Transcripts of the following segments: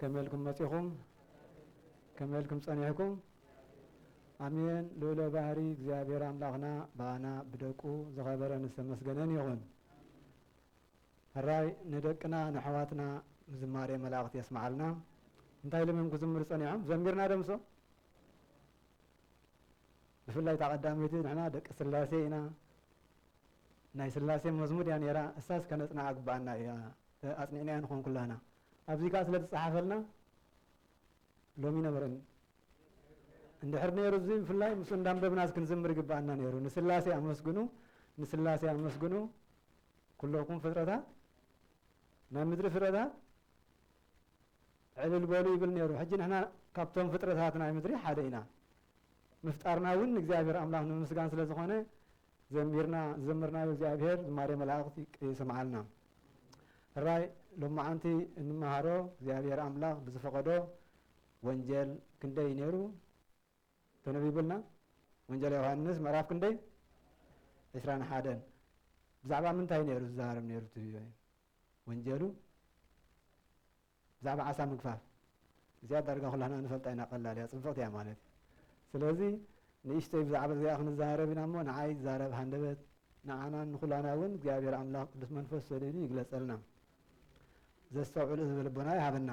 ከመይ ኢልኩም መጺኹም ከመይ ኢልኩም ጸኒሕኩም ኣሜን ልኡለ ባህሪ እግዚኣብሔር ኣምላኽና ብኣና ብደቁ ዝኸበረን ዝተመስገነን ይኹን ሕራይ ንደቅና ንኣሕዋትና ዝማሬ መላእኽቲ የስምዓልና እንታይ ኢሎም እዮም ክዝምሩ ጸኒሖም ዘሚርና ደምሶ ብፍላይ እታ ቀዳመይቲ ንሕና ደቂ ስላሴ ኢና ናይ ስላሴ መዝሙር እያ ነይራ እሳስ ከነጽንዓ ግብኣና እያ ኣጽኒዕናያ ንኮን ኩላህና ኣብዚ ከኣ ስለ ትጽሓፈልና ሎሚ ነበረኒ እንድሕር ነይሩ እዚ ብፍላይ ምስ እንዳንበብናስ ክንዝምር ይግብኣና ነይሩ ንስላሴ ኣመስግኑ ንስላሴ ኣመስግኑ ኩለኩም ፍጥረታት ናይ ምድሪ ፍጥረታት ዕልል በሉ ይብል ነይሩ። ሕጂ ንሕና ካብቶም ፍጥረታት ናይ ምድሪ ሓደ ኢና። ምፍጣርና እውን ንእግዚኣብሔር ኣምላኽ ንምምስጋን ስለ ዝኾነ ዘሚርና፣ ዝዘመርናዮ እግዚኣብሔር ዝማሬ መላእክት የሰምዓልና። ሕራይ ሎምዓንቲ እንመሃሮ እግዚኣብሔር ኣምላኽ ብዝፈቐዶ ወንጀል ክንደይ እዩ ነይሩ ተነቢቡልና? ወንጀል ዮሃንስ ምዕራፍ ክንደይ ዕስራን ሓደን ብዛዕባ ምንታይ ነይሩ ዝዛረብ ነይሩ እቲ ወንጀሉ? ብዛዕባ ዓሳ ምግፋፍ እዚኣ ዳርጋ ኩላህና ንፈልጣ ኢና ቀላል እያ ጽብቅቲ እያ ማለት እዩ ስለዚ ንእሽተይ ብዛዕባ እዚኣ ክንዛረብ ኢና እሞ ንዓይ ዝዛረብ ሃንደበት ንዓናን ንኩላና እውን እግዚኣብሔር ኣምላክ ቅዱስ መንፈስ ሰዲዱ ይግለጸልና ዘስተውዕል እዝበ ልቦና ይሃበና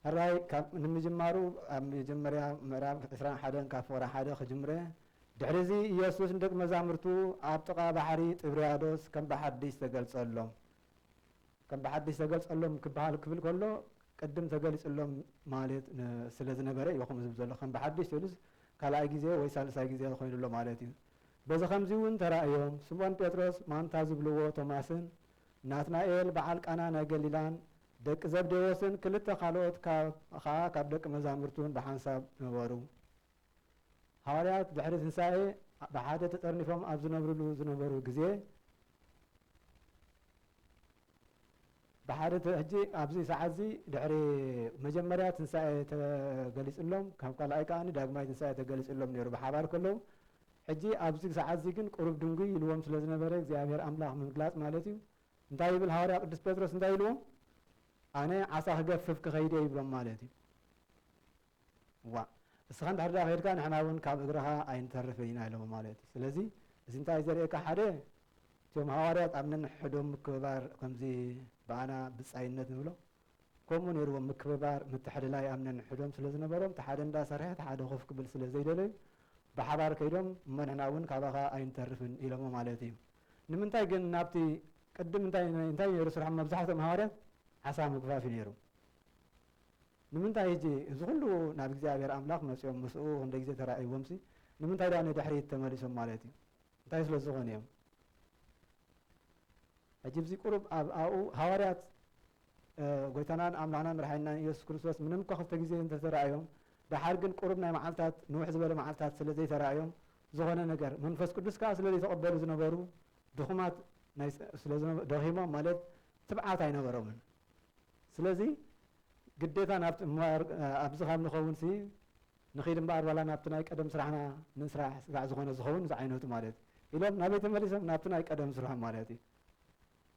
ሕራይ ካብ ንምጅማሩ ኣብ መጀመርያ ምዕራብ ዕስራን ሓደን ካብ ፍቕሪ ሓደ ክጅምረ ድሕሪ እዚ ኢየሱስ ንደቂ መዛሙርቱ ኣብ ጥቓ ባሕሪ ጥብርያዶስ ከም ብሓድሽ ተገልጸሎም ከም ብሓድሽ ተገልጸሎም ክበሃል ክብል ከሎ ቅድም ተገሊጽሎም ማለት ስለ ዝነበረ ኢኹም ዝብል ዘሎ ከም ብሓድሽ ትብልስ ካልኣይ ግዜ ወይ ሳልሳይ ግዜ ኮይኑ ኣሎ ማለት እዩ በዚ ከምዚ እውን ተራእዮም ስምኦን ጴጥሮስ ማንታ ዝብልዎ ቶማስን ናትናኤል በዓል ቃና ናይ ገሊላን ደቂ ዘብዴዎስን ክልተ ካልኦት ካብ ኸኣ ካብ ደቂ መዛሙርቱን ብሓንሳብ ነበሩ ሃዋርያት ድሕሪ ትንሳኤ ብሓደ ተጠርኒፎም ኣብ ዝነብርሉ ዝነበሩ ግዜ ብሓደ ሕጂ ኣብዚ ሰዓት እዚ ድሕሪ መጀመርያ ትንሳኤ ተገሊጽሎም ካብ ካልኣይ ከኣ ዳግማይ ትንሳኤ ተገሊጽሎም ነይሩ ብሓባር ከለዉ ሕጂ ኣብዚ ሰዓት እዚ ግን ቁሩብ ድንጉይ ኢልዎም ስለ ዝነበረ እግዚኣብሔር ኣምላኽ ምምግላጽ ማለት እዩ እንታይ ይብል ሃዋርያ ቅዱስ ጴጥሮስ እንታይ ኢልዎም ኣነ ዓሳ ክገፍፍ ክኸይደ ይብሎም ማለት እዩ ዋእ እስኻ እንድሕር ድኣ ከይድካ ንሕና ውን ካብ እግርኻ ኣይንተርፍን ኢና ኢሎሞ ማለት እዩ ስለዚ እዚ እንታይ እዩ ዘርእየካ ሓደ እቶም ሃዋርያት ኣብ ነንሕዶም ምክብባር ከምዚ ብኣና ብጻይነት ንብሎ ከምኡ ነይርዎም ምክብባር ምትሕልላይ ኣብ ነንሕዶም ስለ ዝነበሮም እቲ ሓደ እንዳ ሰርሐ እቲ ሓደ ኮፍ ክብል ስለ ዘይደለዩ ብሓባር ከይዶም እሞ ንሕና እውን ካባኻ ኣይንተርፍን ኢሎሞ ማለት እዩ ንምንታይ ግን ናብቲ ቅድም እንታይ እንታይ ነይሩ ስርሖም መብዛሕትኦም ሃዋርያት ዓሳ ምግፋፍ እዩ ነይሩ ንምንታይ ህጂ እዚ ኩሉ ናብ እግዚኣብሔር ኣምላክ መጽዮም ምስኡ ክንደይ ግዜ ተራዒብዎምሲ ንምንታይ ድኣ ንድሕሪት ተመሊሶም ማለት እዩ እንታይ ስለ ዝኮኑ እዮም ሕጂ ብዚ ቁሩብ ኣብ ኣብኡ ሃዋርያት ጎይታናን ኣምላክና መድሓኒናን ኢየሱስ ክርስቶስ ምንም እኳ ክልተ ግዜ እንተተራእዮም ደሓር ግን ቁሩብ ናይ መዓልታት ንውሕ ዝበለ መዓልታት ስለ ዘይተራእዮም ዝኾነ ነገር መንፈስ ቅዱስ ከዓ ስለ ዘይተቐበሉ ዝነበሩ ድኹማት ደኺሞም ማለት ትብዓት ኣይነበሮምን ስለዚ ግዴታ ናብቲ እምባኣር ኣብዚ ካብ ንኸውንሲ ንኺድ እምባኣር ዋላ ናብቲ ናይ ቀደም ስራሕና ንስራሕ ስጋዕ ዝኾነ ዝኸውን ዝዓይነቱ ማለት እዩ ኢሎም ናበይ ተመሊሶም ናብቲ ናይ ቀደም ስርሖም ማለት እዩ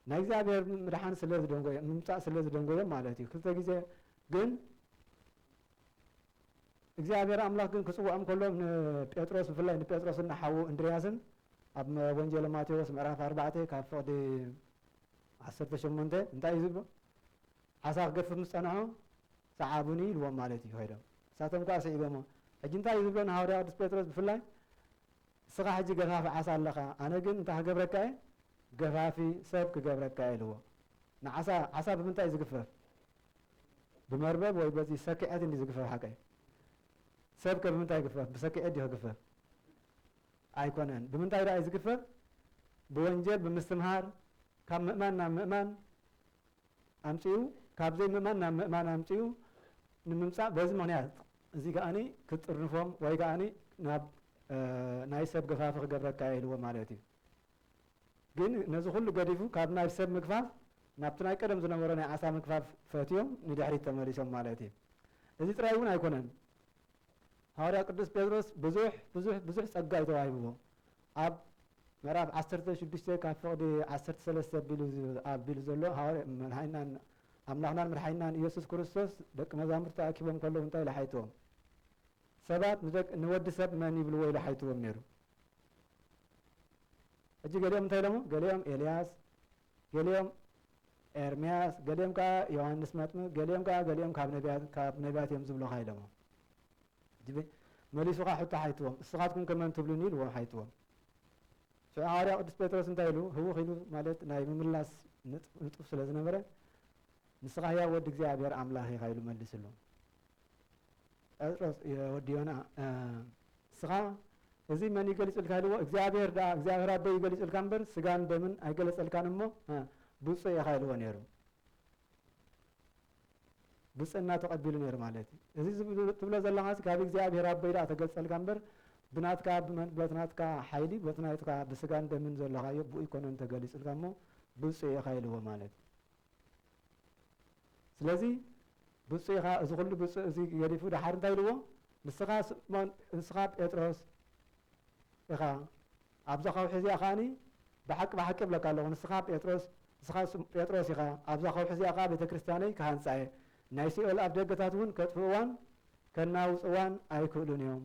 ናይ እግዚኣብሔር ምድሓን ስለ ዝደንጎዮ ምምጻእ ስለ ዝደንጎዮም ማለት እዩ ክልተ ግዜ ግን እግዚኣብሔር ኣምላኽ ግን ክጽውዖም ከሎም ንጴጥሮስ ብፍላይ ንጴጥሮስን ንሓዉ እንድርያስን ኣብ ወንጌል ማቴዎስ ምዕራፍ ኣርባዕተ ካብ ፍቕዲ ዓሰርተ ሸሞንተ እንታይ እዩ ዝብሎ ዓሳ ክገድፉ ምስ ጸንሑ ሰዓቡኒ ኢልዎም ማለት እዩ ከይዶም ንሳቶም ከኣ ስዒቦሞ ሕጂ እንታይ እዩ ዝብሎ ንሃዋርያ ቅዱስ ጴጥሮስ ብፍላይ እስኻ ሕጂ ገፋፊ ዓሳ ኣለኻ ኣነ ግን እንታይ ክገብረካ እየ ገፋፊ ሰብ ክገብረካ እየ ኢልዎ ንዓሳ ዓሳ ብምንታይ እዩ ዝግፈፍ ብመርበብ ወይ በዚ ሰኪዐት እንዲ ዝግፈፍ ሓቀይ ሰብ ከ ብምንታይ ይግፈፍ ብሰኪዐት ዲዩ ክግፈፍ ኣይኮነን። ብምንታይ ደኣ እዩ ዝግፈ? ብወንጀል ብምስትምሃር፣ ካብ ምእማን ናብ ምእማን ኣምጺኡ፣ ካብ ዘይምእማን ናብ ምእማን ኣምጺኡ ንምምጻእ በዚ ምኽንያት እዚ ከኣ ክጥርንፎም ወይ ከኣ ናብ ናይ ሰብ ገፋፊ ክገብረካ እየ ኢልዎ ማለት እዩ። ግን ነዚ ኩሉ ገዲፉ ካብ ናይ ሰብ ምግፋፍ ናብቲ ናይ ቀደም ዝነበሮ ናይ ዓሳ ምግፋፍ ፈትዮም ንድሕሪት ተመሊሶም ማለት እዩ። እዚ ጥራይ እውን ኣይኮነን። ሃዋርያ ቅዱስ ጴጥሮስ ብዙሕ ብዙሕ ብዙሕ ጸጋ እዩ ተዋሂብዎ። ኣብ ምዕራፍ ዓሰርተ ሽዱሽተ ካብ ፍቕዲ ዓሰርተ ሰለስተ ኣቢሉ ኣቢሉ ዘሎ ሃዋርያ መድሓኒናን ኣምላኽናን መድሓኒናን ኢየሱስ ክርስቶስ ደቂ መዛሙርቱ ተኣኪቦም ከለዉ እንታይ ኢሉ ሓይትዎም? ሰባት ንደቂ ንወዲ ሰብ መን ይብልዎ ኢሉ ሓይትዎም ነይሩ። ሕጂ ገሊኦም እንታይ ኢሎሞ? ገሊኦም ኤልያስ፣ ገሊኦም ኤርምያስ ገሊኦም ከኣ ዮሃንስ መጥምቅ ገሊኦም ከኣ ገሊኦም ካብ ነቢያት ካብ ነቢያት እዮም ዝብሉኻ ኢሎሞ መሊሱ ከኣ ሕቶ ሓይትዎም እስኻትኩም ከመን ትብሉኒ ኢልዎም ሓይትዎም ሽዑ ሃዋርያ ቅዱስ ጴጥሮስ እንታይ ኢሉ ህውኽ ኢሉ ማለት ናይ ምምላስ ንጡፍ ስለ ዝነበረ ንስኻ ህያው ወዲ እግዚኣብሔር ኣምላኽ ኢኻ ኢሉ መሊስሉ ጰጥሮስ ወዲ ዮና እስኻ እዚ መን እዩ ገሊጹልካ ኢልዎ እግዚኣብሔር ደኣ እግዚኣብሔር ኣቦ እዩ ገሊጹልካ እምበር ስጋን ደምን ኣይገለጸልካን እሞ ብፁዕ ኢኻ ኢልዎ ነይሩ ብፅዕና ተቐቢሉ ነይሩ ማለት እዩ እዚ ትብሎ ዘለኻ ካብ እግዚኣብሔር ኣቦይ ደኣ ተገልጸልካ እምበር ብናትካ በቲ ናትካ ሓይሊ በቲ ናትካ ብስጋን ደምን ዘለኻዮ ብኡ ይኮነን ተገሊጹልካ እሞ ብፁዕ ኢኻ ኢልዎ ማለት እዩ ስለዚ ብጹእ ኢኻ እዚ ኩሉ ብጹእ እዚ ገዲፉ ደሓር እንታይ ኢልዎ ንስኻ ስሞን ንስኻ ጴጥሮስ ኢኻ ኣብዛ ከውሒ እዚኣ ከዓኒ ብሓቂ ብሓቂ እብለካ ኣለኹ ንስኻ ጴጥሮስ ንስኻ ጴጥሮስ ኢኻ ኣብዛ ከውሒ እዚኣ ከዓ ቤተ ክርስቲያነይ ክሃንጻ እየ ናይ ሲኦል ኣብ ደገታት እውን ከጥፍእዋን ከናውፅዋን ኣይክእሉን እዮም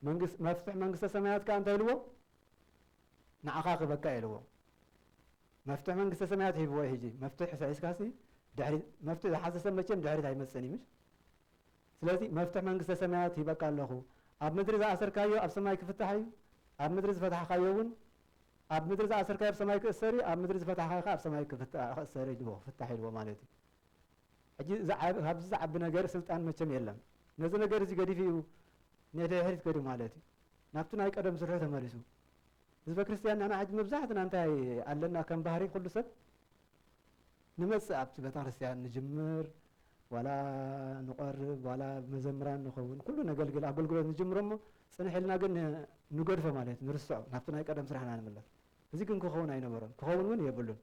መንግስት መፍትሕ መንግስተ ሰማያት ከዓ እንታይ ኢልዎ ንዓኻ ክበካ ኢልዎ መፍትሕ መንግስተ ሰማያት ሂብዎ እዩ ሕጂ መፍትሕ ሰሒስካሲ ድሕሪት መፍትሕ ዝሓዘ ሰብ መቸም ድሕሪት ኣይመጽእን እዩ ምሽ ስለዚ መፍትሕ መንግስተ ሰማያት ሂበካ ኣለኹ ኣብ ምድሪ ዝኣሰርካዮ ኣብ ሰማይ ክፍታሕ እዩ ኣብ ምድሪ ዝፈታሕካዮ እውን ኣብ ምድሪ ዝኣሰርካዮ ኣብ ሰማይ ክእሰር እዩ ኣብ ምድሪ ዝፈታሕካዮ ከ ኣብ ሰማይ ክእሰር ኢልዎ ክፍታሕ ኢልዎ ማለት እዩ ሕጂ ካብዚ ዝዓቢ ነገር ስልጣን መቸም የለን ነዚ ነገር እዚ ገዲፉ እዩ ንድሕሪት ከዱ ማለት እዩ ናብቲ ናይ ቀደም ስርሑ ተመሊሱ ህዝበ ክርስትያን ንሕና ሕጂ መብዛሕትና እንታይ ኣለና ከም ባህሪ ኩሉ ሰብ ንመጽእ ኣብቲ ቤተ ክርስትያን ንጅምር ዋላ ንቆርብ ዋላ መዘምራን ንኸውን ኩሉ ነገልግል ኣገልግሎት ንጅምሮ እሞ ጽንሕ ኢልና ግን ንገድፎ ማለት ንርስዖ ናብቲ ናይ ቀደም ስራሕና ንምለስ እዚ ግን ክኸውን ኣይነበሮን ክኸውን እውን የብሉን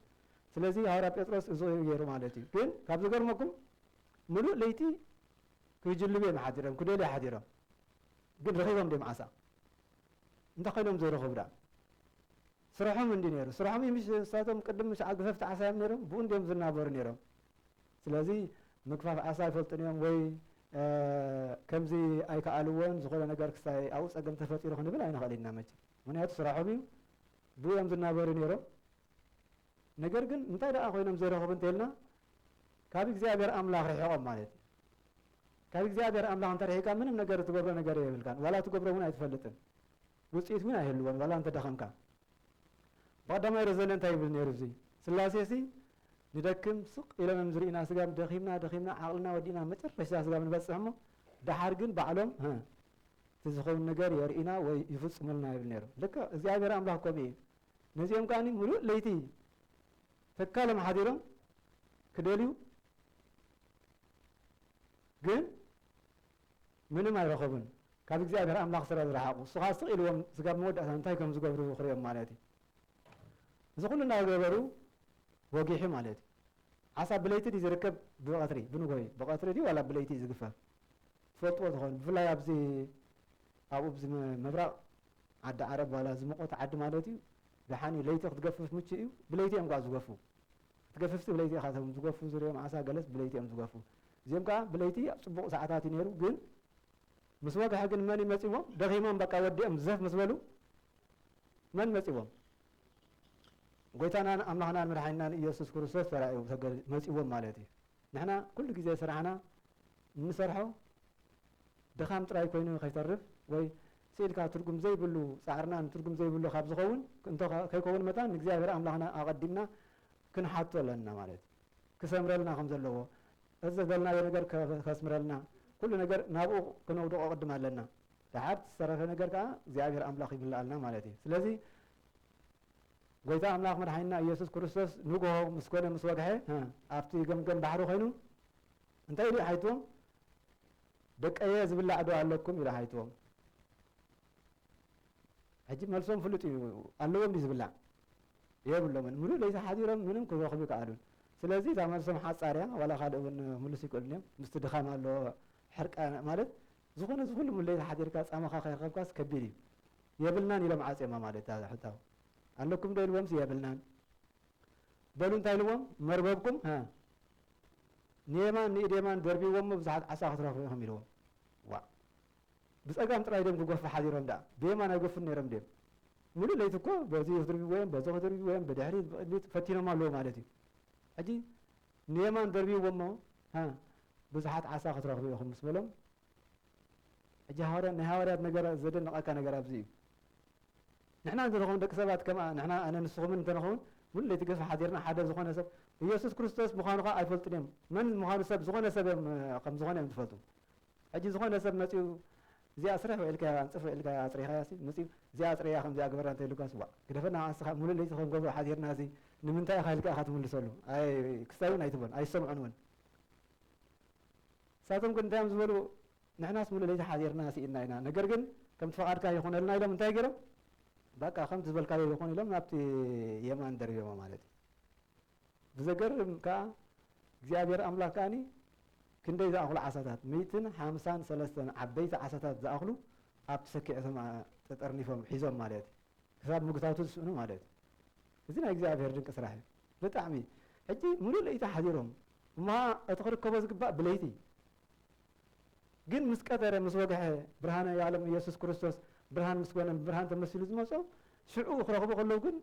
ስለዚ ሃዋርያ ጴጥሮስ እዚ እዩ ገይሩ ማለት እዩ ግን ካብ ዝገርመኩም ምሉእ ለይቲ ክጅልቡ እዮም ሓዲሮም ክደልዩ ሓዲሮም ግን ረኺቦም ድም ዓሳ እንታይ ኮይኖም ዝርኽቡ ድኣ ስርሖም እንድዩ ነይሩ ስርሖም እዩ ምሽ ንሳቶም ቅድም ምሽ ኣግፈፍቲ ዓሳ እዮም ነይሮም ብኡ እንድዮም ዝናበሩ ነይሮም ስለዚ ምግፋፍ ዓሳ ይፈልጡን እዮም ወይ ከምዚ ኣይከኣልዎን ዝኾነ ነገር ክሳይ ኣብኡ ፀገም ተፈጢሩ ክንብል ኣይንኽእል ኢና መቸም ምክንያቱ ስራሖም እዩ ብኡ እዮም ዝናበሩ ነይሮም ነገር ግን እንታይ ደኣ ኮይኖም ዘይረኸቡ እንተልና ካብ እግዚኣብሔር ኣምላኽ ርሒቆም ማለት እዩ። ካብ እግዚኣብሔር ኣምላኽ እንተርሒቃ ምንም ነገር እትገብሮ ነገር የብልካን ዋላ እትገብሮ እውን ኣይትፈልጥን ውፅኢት እውን ኣይህልዎን ዋላ እንተደኸምካ። ብቐዳማይ ረዘነ እንታይ ይብል ነይሩ እዚ ስላሴሲ ንደክም ስቕ ኢሎም እዮም ዝርኢና ስጋብ ደኺምና ደኺምና ዓቕልና ወዲእና መጨረሻ ስጋብ ንበፅሕ እሞ ደሓር ግን ባዕሎም እቲ ዝኸውን ነገር የርኢና ወይ ይፍፅሙልና ይብል ነይሩ። ልክዕ እግዚኣብሔር ኣምላኽ ከምኡ እዩ። ነዚኦም ከኣ ምሉእ ለይቲ ተካሎም ሓዲሮም ክደልዩ ግን ምንም ኣይረኸቡን ካብ እግዚኣብሔር ኣምላኽ ስለ ዝረሓቑ እሱ ኸዓ ስቕ ኢልዎም ስጋብ መወዳእታ እንታይ ከም ዝገብሩ ክርእዮም ማለት እዩ እዚ ኩሉ እናገበሩ ወጊሑ ማለት እዩ ዓሳ ብለይቲ ድዩ ዝርከብ ብቐትሪ ብንጎ እዩ ብቐትሪ ድዩ ዋላ ብለይቲ እዩ ዝግፈፍ ትፈልጥዎ ዝኾኑ ብፍላይ ኣብዚ ኣብኡ ምብራቕ ዓዲ ዓረብ ዋላ ዝሙቆት ዓዲ ማለት እዩ ደሓን እዩ ለይቲ ክትገፍፍ ምቹእ እዩ ብለይቲ እዮም ከኣ ዝገፉ ትገፍፍቲ ብለይቲ ኢኻ ቶም ዝገፉ ዝርኦም ዓሳ ገለስ ብለይቲ እዮም ዝገፉ እዚኦም ከኣ ብለይቲ ኣብ ጽቡቕ ሰዓታት እዩ ነይሩ ግን ምስ ወግሐ ግን መን ይመጽዎም ደኺሞም በቃ ወዲኦም ዘፍ ምስ በሉ መን መጽዎም ጎይታናን ኣምላኽናን መድሓኒናን ኢየሱስ ክርስቶስ ተራእዩ መጺዎም ማለት እዩ ንሕና ኩሉ ግዜ ስራሕና እንሰርሖ ድኻም ጥራይ ኮይኑ ከይተርፍ ወይ ስእ ኢልካ ትርጉም ዘይብሉ ጻዕርና ንትርጉም ዘይብሉ ካብ ዝኸውን እንተ ከይከውን መታን ንእግዚኣብሔር ኣምላኽና ኣቐዲምና ክንሓቶ ኣለና ማለት እዩ። ክሰምረልና ከም ዘለዎ እዚ ዘበልናዮ ነገር ከስምረልና ኩሉ ነገር ናብኡ ክነውድቖ ቅድም ኣለና ደሓር እቲ ዝተረፈ ነገር ከኣ እግዚኣብሔር ኣምላኽ ይምልኣልና ማለት እዩ። ስለዚ ጎይታ ኣምላኽ መድሓኒና ኢየሱስ ክርስቶስ ንግሆ ምስ ኮነ ምስ ወግሐ ኣብቲ ገምገም ባሕሪ ኮይኑ እንታይ ኢሉ እዩ ሓይትዎም? ደቀየ ዝብላዕ ዶ ኣለኩም? ኢሉ ሓይትዎም። ሕጂ መልሶም ፍሉጥ እዩ፣ ኣለዎም ድዩ ዝብላዕ? የብሎምን። ምሉእ ለይቲ ሓዲሮም ምንም ክረኽቡ ኣይከኣሉን። ስለዚ እታ መልሶም ሓጻር እያ፣ ዋላ ካልእ እውን ክምልሱ ኣይክእሉን እዮም። ምስቲ ድኻም ኣሎ፣ ሕርቃ ማለት ዝኾነ እዚ ኩሉ ለይቲ ሓዲርካ ጻማኻ ከይረኸብካስ ከቢድ እዩ። የብልናን ኢሎም ዓጽዮማ ማለት እታ ሕታው። ኣለኩም ዶ ኢልዎምስ የብልናን። በሉ እንታይ ኢልዎም? መርበብኩም ንየማን ንኢድ የማን ደርብዎሞ ብዙሓት ዓሳ ክትረኽቡ ኢኹም ኢልዎም። ዋእ! ብጸጋም ጥራይ ድዮም ክገፉ ሓዲሮም ደኣ ብየማን ኣይገፉን ነይሮም ድዮም? ምሉእ ለይቲ እኮ በዚ ክድርብዎዮም በዚ ክድርብዎዮም ብድሕሪት ብቕድሚት ፈቲኖም ኣለዉ ማለት እዩ። ሕጂ ንየማን ደርብዎሞ ሃ ብዙሓት ዓሳ ክትረኽቡ ኢኹም ምስ በሎም ሕጂ ሃዋርያ ናይ ሃዋርያት ነገራት ዘደንቓካ ነገር ኣብዚ እዩ። ንሕና እንተ ንኸውን ደቂ ሰባት ከምኣ ንሕና ኣነ ንስኹምን እንተ ንኸውን ምሉእ ለይቲ ገጹ ሓዲርና ሓደ ዝኾነ ሰብ ኢየሱስ ክርስቶስ ምዃኑ ከኣ ኣይፈልጡን እዮም። መን ምዃኑ ሰብ ዝኾነ ሰብ እዮም ከም ዝኾነ እዮም ዝፈልጡ። ሕጂ ዝኾነ ሰብ መጺኡ እዚኣ ስርሕ ኢልካያ ጽፍሪ ኢልካያ ኣጽሪኻያሲ መጺኡ እዚኣ ኣጽሪያ ከምዚኣ ግበራ እንተ ኢሉካስ ዋእ ግደፈና ከኣ ንስኻ ምሉእ ለይቲ ከም ጎቦ ሓዲርናሲ ንምንታይ ኢኻ ኢልካ ኢኻ ትምልሰሉ። ኣይ ክስታይ እውን ኣይትበል ኣይሰምዑን እውን። ንሳቶም ግን እንታይ እዮም ዝበሉ? ንሕናስ ምሉእ ለይቲ ሓዲርና ስኢንና ኢና፣ ነገር ግን ከምቲ ፈቓድካ ይኹነልና ኢሎም እንታይ ገይሮም? በቃ ከምቲ ዝበልካዮ ይኹን ኢሎም ናብቲ የማን ደርቢዮማ ማለት እዩ። ብዘገርም ከኣ እግዚኣብሄር ኣምላኽ ከኣኒ ክንደይ ዝኣኽሉ ዓሳታት፣ ሚእትን ሓምሳን ሰለስተን ዓበይቲ ዓሳታት ዝኣኽሉ ኣብቲ ሰኪዔቶም ጠጠርኒፎም ሒዞም ማለት እዩ። ክሳብ ምግታውቱ ዝስእኑ ማለት እዩ እዚ ናይ እግዚኣብሔር ድንቂ ስራሕ እዩ ብጣዕሚ ሕጂ ምሉእ ለይቲ ሓዲሮም እሞ ኸኣ እቲ ክርከቦ ዝግባእ ብለይቲ ግን ምስ ቀተረ ምስ ወግሐ ብርሃነ የዓለም ኢየሱስ ክርስቶስ ብርሃን ምስ ኮነ ብብርሃን ተመሲሉ ዝመጾ ሽዑ ክረኽቡ ከለዉ ግን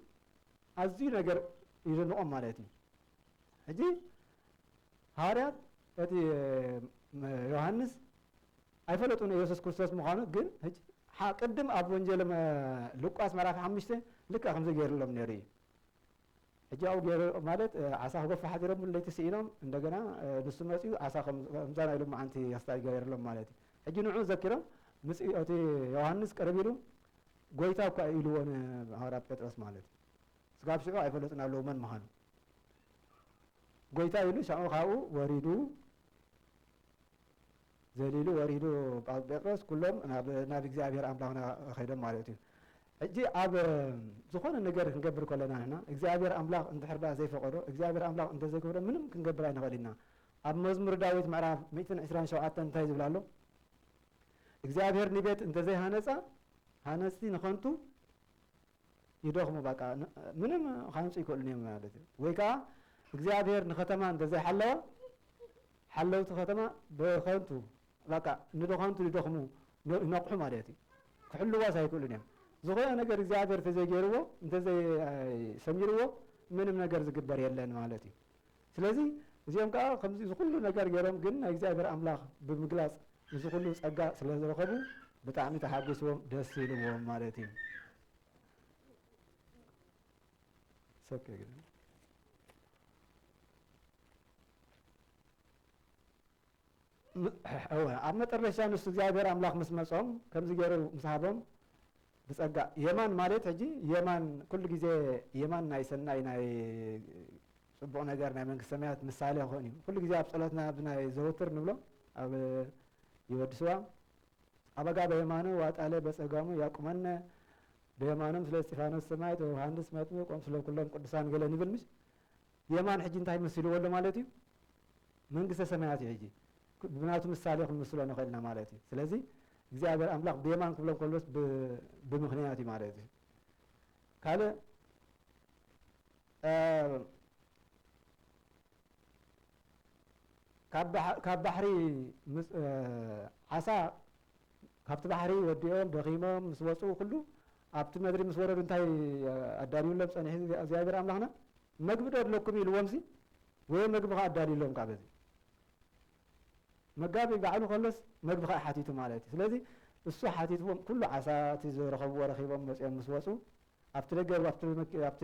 ኣዝዩ ነገር ይደንቖም ማለት እዩ ሕጂ ሃዋርያት እቲ ዮሃንስ ኣይፈለጡን ኢየሱስ ክርስቶስ ምዃኑ ግን ህጂ ሓ ቅድም ኣብ ወንጀል ሉቃስ ምዕራፍ ሓሙሽተ ልክዕ ከምዚ ገይርሎም ነይሩ እዩ ሕጂ ኣብኡ ገይሩ ማለት ዓሳ ክገፉ ሓዲሮም ለይቲ ስኢኖም እንደገና ንሱ መፅኡ ዓሳ ከምዛ ናይ ሎማዓንቲ ክስታይ ገይርሎም ማለት እዩ ሕጂ ንዑ ዘኪሮም ምስ እቲ ዮሃንስ ቅርብ ኢሉ ጎይታ እኳ ኢልዎ ንሃዋርያ ጴጥሮስ ማለት እዩ ስጋብ ሽዑ ኣይፈለጡን ኣለዉ መን ምዃኑ ጐይታ ኢሉ ሻዑ ካብኡ ወሪዱ ዘሊሉ ወሪዱ ጴጥሮስ ኩሎም ናብ እግዚኣብሔር ኣምላኽና ኸይዶም ማለት እዩ ሕጂ ኣብ ዝኾነ ነገር ክንገብር ከሎና ንሕና እግዚኣብሔር ኣምላኽ እንድሕር ደኣ ዘይፈቐዶ እግዚኣብሔር ኣምላኽ እንተዘይገብሮ ምንም ክንገብር ኣይንኽእል ኢና ኣብ መዝሙር ዳዊት ምዕራፍ ሚእትን ዕስራን ሸውዓተን እንታይ ዝብል ኣሎ እግዚኣብሔር ንቤት እንተዘይሃነጻ ሃነጽቲ ንኸንቱ ይደኽሙ ባቃ ምንም ኻንጹ ይክእሉን እዮም ማለት እዩ ወይ ከዓ እግዚኣብሔር ንከተማ እንተዘይሓለወ ሓለውቲ ከተማ ብኸንቱ ባቃ ንድኸንቱ ይደኽሙ ይነቕሑ ማለት እዩ ክሕልዋስ ኣይክእሉን እዮም ዝኾነ ነገር እግዚኣብሔር ተዘይገይርዎ እንተዘይሰሚርዎ ምንም ነገር ዝግበር የለን ማለት እዩ ስለዚ እዚኦም ከኣ ከምዚ እዚ ኩሉ ነገር ጌሮም ግን ናይ እግዚኣብሔር ኣምላኽ ብምግላጽ እዚ ኩሉ ጸጋ ስለ ዝረኸቡ ብጣዕሚ ተሓጉስዎም ደስ ኢልዎም ማለት እዩ። ሰከ ግን እወ ኣብ መጠረሻ ንሱ እግዚኣብሔር ኣምላኽ ምስ መጾም ከምዚ ገሩ ምስ ሃቦም ብጸጋ የማን ማለት ሕጂ የማን ኩሉ ግዜ የማን ናይ ሰናይ ናይ ጽቡቕ ነገር ናይ መንግስቲ ሰማያት ምሳሌ ክኾን እዩ ኩሉ ግዜ ኣብ ጸሎትና ብናይ ዘወትር ንብሎ ኣብ ይወድስዋ ኣበጋ በየማኑ ዋጣለ በጸጋሙ ያቁመነ በየማኖም ስለ እስጢፋኖስ ሰማይት ወዮሃንስ መጥምቅ ኦም ስለ ኩሎም ቅዱሳን ገለ ንብል ምሽ የማን ሕጂ እንታይ መሲልዎ ኣሎ ማለት እዩ መንግስተ ሰማያት እዩ ሕጂ ብናቱ ምሳሌ ክንምስሎ ንኽእል ኢና ማለት እዩ ስለዚ እግዚኣብሔር ኣምላኽ ብየማን ክብሎ ከሎስ ብምኽንያት እዩ ማለት እዩ ካልእ ካብ ባሕሪ ዓሳ ካብቲ ባሕሪ ወዲኦም ደኺሞም ምስ ወጹ ኩሉ ኣብቲ መድሪ ምስ ወረዱ እንታይ ኣዳልዩሎም ጸኒሑ እግዚኣብሔር ኣምላኽና መግቢ ዶ ኣለኩም ኢልዎምሲ ወይ መግቢ ከ ኣዳልዩሎም ካብ በዚ መጋቢ ባዕሉ ከሎስ መግቢ ከ ሓቲቱ ማለት እዩ ስለዚ እሱ ሓቲትዎም ኩሉ ዓሳ እቲ ዝረኸብዎ ረኺቦም መጺኦም ምስ ወጹ ኣብቲ ደገ ኣብቲ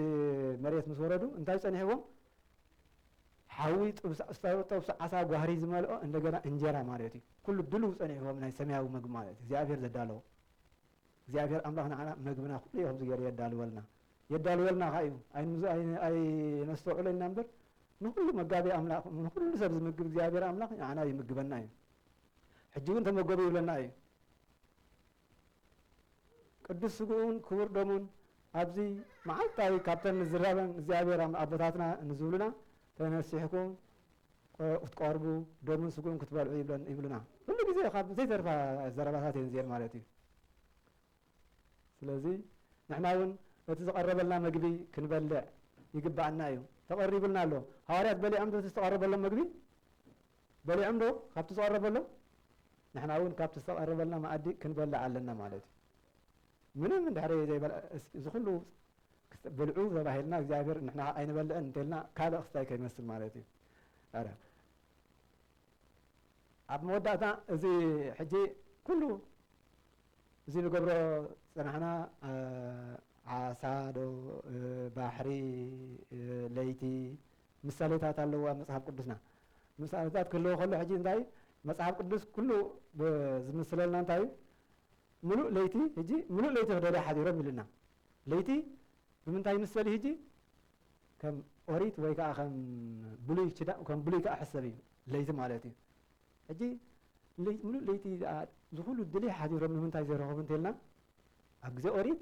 መሬት ምስ ወረዱ እንታይ ጸኒሕዎም ሓዊ ጠብሱ ዓሳ ጓህሪ ዝመልኦ እንደገና እንጀራ ማለት እዩ ኩሉ ድሉው ጸኒሕዎም ናይ ሰማያዊ መግቢ ማለት እግዚኣብሔር ዘዳለዎ እግዚኣብሔር ኣምላኽ ንዓና መግብና ኩሉ ከምዚ ገይሩ የዳልወልና የዳልወልና ከኣ እዩ ኣይነስተውዕሎ ኢና እምበር ንኩሉ መጋቢ ኣምላኽ ንኩሉ ሰብ ዝምግብ እግዚኣብሔር ኣምላኽ ንዓና ይምግበና እዩ ሕጂ እውን ተመገቡ ይብለና እዩ ቅዱስ ስግኡን ክቡር ደሙን ኣብዚ መዓልታዊ ካብተን ንዝራበን እግዚኣብሔር ኣቦታትና ንዝብሉና ተነሲሕኩም ክትቀርቡ ደሙን ስግኡን ክትበልዑ ይብሉና ኩሉ ግዜ ካብ ዘይተርፋ ዘረባታት እየን እዚኤን ማለት እዩ ስለዚ ንሕና እውን እቲ ዝቐረበልና መግቢ ክንበልዕ ይግባእና እዩ ተቐሪቡልና ኣሎ ሃዋርያት በሊዖም እቲ ዝተቐረበሎም መግቢ በሊዖም ዶ ካብቲ ዝቐረበሎም? ንሕና እውን ካብቲ ዝተቐረበልና መኣዲ ክንበልዕ ኣለና ማለት እዩ። ምንም እንድሕሪ ዘይበልዐ እዚ ኩሉ ብልዑ ተባሂልና እግዚኣብሔር ንሕና ኣይንበልዕን እንተልና ካልእ ክስታይ ከይመስል ማለት እዩ። ኣረ ኣብ መወዳእታ እዚ ሕጂ ኩሉ እዚ ንገብሮ ዝጸናሕና ዓሳ ዶ ባሕሪ ለይቲ ምሳሌታት ኣለዉ ኣብ መጽሓፍ ቅዱስና። ምሳሌታት ክህልዎ ከሎ ሕጂ እንታይ እዩ መጽሓፍ ቅዱስ ኩሉ ዝምስለልና እንታይ እዩ ምሉእ ለይቲ ሕጂ ምሉእ ለይቲ ክደልያ ሓዲሮም ኢሉና። ለይቲ ብምንታይ ይምሰል እዩ ሕጂ ከም ኦሪት ወይ ከዓ ከም ብሉይ ኪዳን ከም ብሉይ ከዓ ሕሰብ እዩ ለይቲ ማለት እዩ ሕጂ ምሉእ ለይቲ ዝኹሉ ድልይ ሓዲሮም ንምንታይ ዘይረኸቡ እንተልና ኣብ ግዜ ኦሪት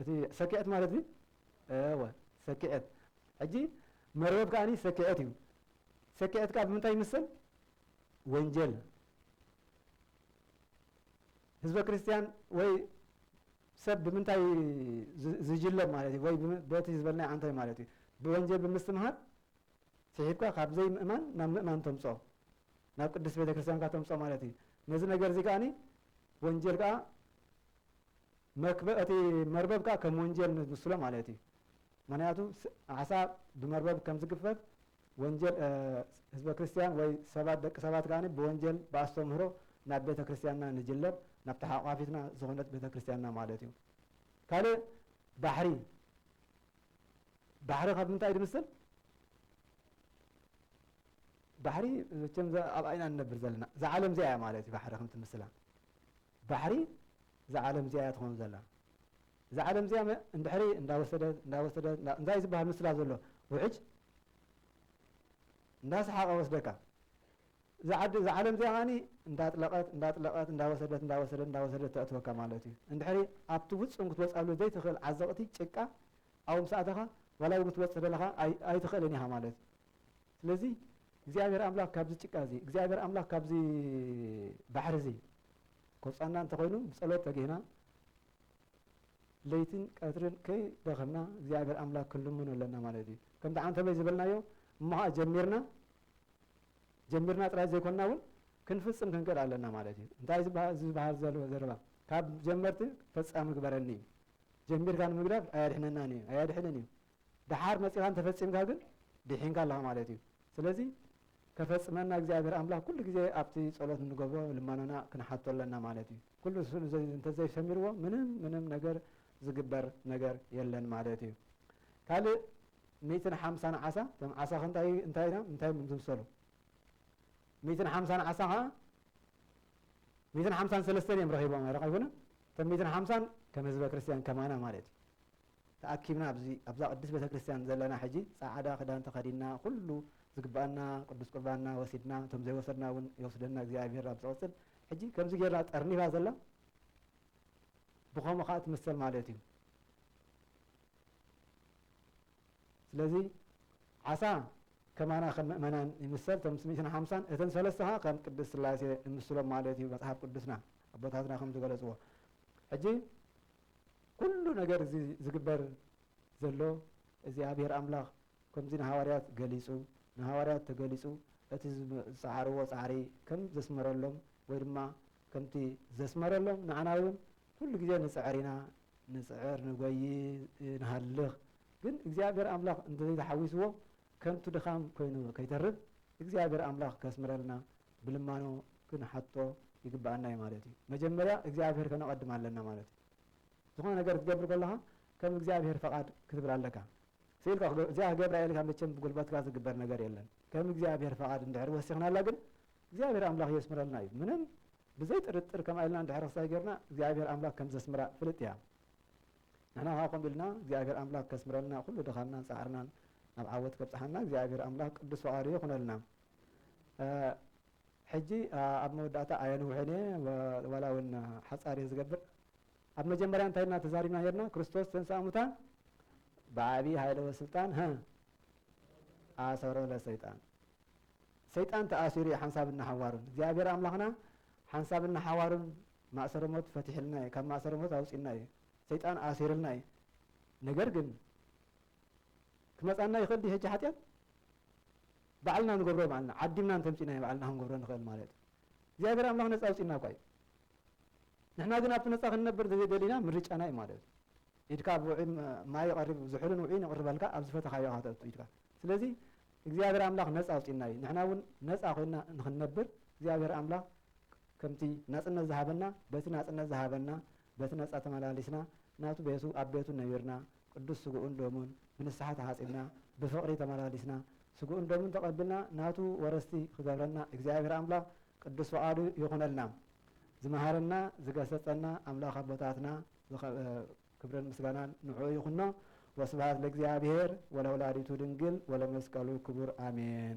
እቲ ሰኪዐት ማለት እዚ እወ ሰኪዐት ሕጂ መርበብ ከኣ ሰኪዐት እዩ ሰኪዐት ከኣ ብምንታይ ይምሰል ወንጀል ህዝበ ክርስቲያን ወይ ሰብ ብምንታይ ዝጅለብ ማለት እዩ ወይ በቲ ዝበልናይ ዓንታይ ማለት እዩ ብወንጀል ብምስትምሃር ስሒብካ ካብ ዘይምእማን ናብ ምእማን ተምፅኦ ናብ ቅዱስ ቤተ ክርስቲያንካ ተምፅኦ ማለት እዩ ነዚ ነገር እዚ ከኣኒ ወንጀል ከዓ መክበ እቲ መርበብ ከኣ ከም ወንጀል ንዝምስሎ ማለት እዩ። ምክንያቱ ዓሳ ብመርበብ ከም ዝግፈፍ ወንጀል ህዝበ ክርስትያን ወይ ሰባት ደቂ ሰባት ከኣ ብወንጀል ብኣስተምህሮ ናብ ቤተ ክርስትያንና ንጅለብ ናብ ተሓቋፊትና ዝኾነት ቤተ ክርስትያንና ማለት እዩ። ካልእ ባሕሪ ባሕሪ ካብ ምንታይ ድምስል ባሕሪ መቸም ኣብኣ ኢና ንነብር ዘለና እዛ ዓለም እዚኣ እያ ማለት እዩ ባሕሪ ከም ትምስላ ባሕሪ እዛ ዓለም እዚኣ እያ ትኸውን ዘላ። እዛ ዓለም እዚኣ እንድሕሪ እንዳ ወሰደት እንዳ ወሰደት እንዳ እንታይ ዝበሃል ምስላ ዘሎ ውሕጅ እንዳ ሰሓቐ ወስደካ። እዛ ዓዲ እዛ ዓለም እዚኣ ከዓኒ እንዳ ኣጥለቐት እንዳ ኣጥለቐት እንዳ ወሰደት እንዳ ወሰደት እንዳ ወሰደት ተእትወካ ማለት እዩ። እንድሕሪ ኣብቲ ፍጹም ክትወጽኣሉ ዘይትኽእል ዓዘቕቲ ጭቃ ኣብኡ ምስ ኣተኻ ዋላ እውን ክትወጽእ ተደለኻ ኣይ ኣይትኽእልን ኢኻ ማለት እዩ። ስለዚ እግዚኣብሔር ኣምላኽ ካብዚ ጭቃ እዚ እግዚኣብሔር ኣምላኽ ካብዚ ባሕሪ እዚ ከውፃና እንተኾይኑ ብፀሎት ተጊህና ለይትን ቀትርን ከይደኸምና እግዚኣብሔር ኣምላኽ ክንልምኖ ኣለና ማለት እዩ ከምቲ ዓንተበይ ዝበልናዮ እሞ ከዓ ጀሚርና ጀሚርና ጥራይ ዘይኮንና እውን ክንፍፅም ክንክእል ኣለና ማለት እዩ እንታይ ዝበሃል ዘሎ ዘረባ ካብ ጀመርቲ ፈፃሚ ግበረኒ እዩ ጀሚርካ ንምግዳፍ ኣየድሕነናን እዩ ኣየድሕንን እዩ ደሓር መጺኻን ተፈጺምካ ግን ዲሒንካ ኣለኻ ማለት እዩ ስለዚ ከፈጽመና እግዚኣብሔር ኣምላኽ ኩሉ ግዜ ኣብቲ ጸሎት እንገብሮ ልማኖና ክንሓቶ ኣለና ማለት እዩ ኩሉ እንተዘይ ሰሚርዎ ምንም ምንም ነገር ዝግበር ነገር የለን ማለት እዩ ካልእ ሚእትን ሓምሳን ዓሳ እቶም ዓሳ ከንታይ እንታይ ኢና እንታይ ዝምሰሉ ሚእትን ሓምሳን ዓሳ ከዓ ሚእትን ሓምሳን ሰለስተን እዮም ረኺቦም ኣይረኸቡን እቶም ሚእትን ሓምሳን ከም ህዝበ ክርስትያን ከማና ማለት እዩ ተኣኪብና ኣብዚ ኣብዛ ቅድስት ቤተክርስትያን ዘለና ሕጂ ጻዓዳ ክዳን ተከዲንና ኩሉ ዝግባኣና ቅዱስ ቁርባንና ወሲድና እቶም ዘይወሰድና ውን የውስደና እግዚኣብሄር ኣብ ዝቅጽል ሕጂ ከምዚ ጌራ ጠርኒፋ ዘላ ብከምኡ ከኣ ትምሰል ማለት እዩ ስለዚ ዓሳ ከማና ከም ምእመናን ይምሰል እቶም ስሚትን ሓምሳን እተን ሰለስተ ከኣ ከም ቅድስት ስላሴ ንምስሎም ማለት እዩ መጽሓፍ ቅዱስና ኣቦታትና ከም ዝገለጽዎ ሕጂ ኩሉ ነገር እዚ ዝግበር ዘሎ እግዚኣብሄር ኣምላኽ ከምዚ ንሃዋርያት ገሊጹ ንሃዋርያት ተገሊጹ እቲ ዝጸዓርዎ ጻዕሪ ከም ዘስመረሎም ወይ ድማ ከምቲ ዘስመረሎም ንዓና ውን ኩሉ ግዜ ንጽዕር ኢና ንጽዕር ንጎዪ ንሃልኽ ግን እግዚኣብሄር ኣምላኽ እንተዘይ ተሓዊስዎ ከንቱ ድኻም ኮይኑ ከይተርፍ እግዚኣብሄር ኣምላኽ ከስምረልና ብልማኖ ክንሓቶ ይግብኣና እዩ ማለት እዩ መጀመርያ እግዚኣብሄር ከነቀድም ኣለና ማለት እዩ ዝኾነ ነገር ክትገብር ከለኻ ከም እግዚኣብሄር ፈቓድ ክትብል ኣለካ ስኢልካ ክገብር እዚኣ ክገብራ ኢልካ መቸም ብጉልበትካ ዝግበር ነገር የለን ከም እግዚኣብሄር ፈቓድ እንድሕር ወሲኽናላ ግን እግዚኣብሄር ኣምላኽ የስምረልና እዩ ምንም ብዘይ ጥርጥር ከምኣ ኢልና እንድሕር ክሳይ ጌርና እግዚኣብሄር ኣምላኽ ከም ዘስምራ ፍልጥ እያ ንሕና ኸዓ ከምኡ ኢልና እግዚኣብሄር ኣምላኽ ከስምረልና ኩሉ ድኻምናን ጻዕርናን ናብ ዓወት ከብጽሓና እግዚኣብሄር ኣምላኽ ቅዱስ ፈቓዱ ይኹነልና ሕጂ ኣብ መወዳእታ ኣየንውሕን እየ ዋላ ውን ሓጻር እየ ዝገብር ኣብ መጀመርያ እንታይ ኢልና ተዛሪብና ኔርና ክርስቶስ ተንሥኣ ሙታን ብዓቢ ሃይለ ወስልጣን ሀ ኣሰሮ ለሰይጣን ሰይጣን ተኣሲሩ እዩ ሓንሳብን ንሓዋሩን እግዚኣብሔር ኣምላኽና ሓንሳብን ንሓዋሩን ማእሰረ ሞት ፈቲሕልና እዩ ካብ ማእሰረ ሞት ኣውጺና እዩ ሰይጣን ኣሲርልና እዩ ነገር ግን ክመጻና ይክእል ድዩ ሕጂ ሓጢኣት ባዕልና ንገብሮ ባዕልና ዓዲምና እንተምጺናዮ ባዕልና ክንገብሮ ንክእል ማለት እዩ እግዚኣብሔር ኣምላኽ ነጻ ኣውጺና እኳ እዩ ንሕና ግን ኣብቲ ነጻ ክንነበር እንተዘይደሊና ምርጫና እዩ ማለት እዩ ኢድካ ብውዑይ ማይ ይቐርብ ዝሑልን ውዑይን ይቕርበልካ ኣብ ዝፈተኻዮ ኢኻ ተእቱ ኢድካ ስለዚ እግዚኣብሔር ኣምላኽ ነፃ ኣውፂና እዩ ንሕና እውን ነፃ ኮይና ንክንነብር እግዚኣብሔር ኣምላኽ ከምቲ ናፅነት ዝሃበና በቲ ናፅነት ዝሃበና በቲ ነፃ ተመላሊስና ናቱ ቤቱ ኣብ ቤቱ ነቢርና ቅዱስ ስግኡን ደሙን ብንስሓ ተሓጺብና ብፍቕሪ ተመላሊስና ስግኡን ደሙን ተቐብልና ናቱ ወረስቲ ክገብረና እግዚኣብሔር ኣምላኽ ቅዱስ ፍቓዱ ይኹነልና። ዝመሃረና ዝገሰጸና ኣምላኽ ኣቦታትና ክብርን ምስጋናን ንዕኡ ይኹኖ ወስብሃት ለእግዚኣብሔር ወለወላዲቱ ድንግል ወለመስቀሉ ክቡር ኣሜን።